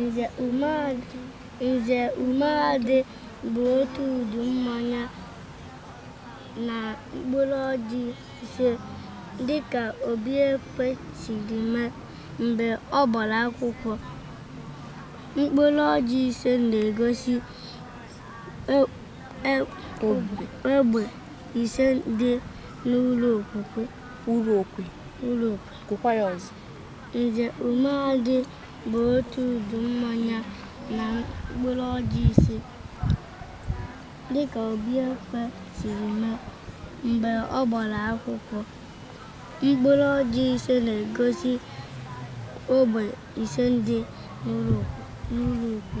Nze umeadị Nze umeadị bu otu udu mmanya na mkpụrụ ọjị ise dịka Obiekwe siri mee mgbe ọ gbara akwụkwọ. Mkpụrụ ọjị ise na-egosi e, e, egbe ise dị n'ụlọ okwukwe. Ụlọ ukwu. Gụkwa ya ọzọ. Nze Umeadị bu otu udu mmanya na mkpụrụ ọjị ise dịka Obiekwe siri mee mgbe ọ gbara akwụkwọ. Mkpụrụ ọjị ise na-egosi ogbe ise dị n'ụlọ ukwu.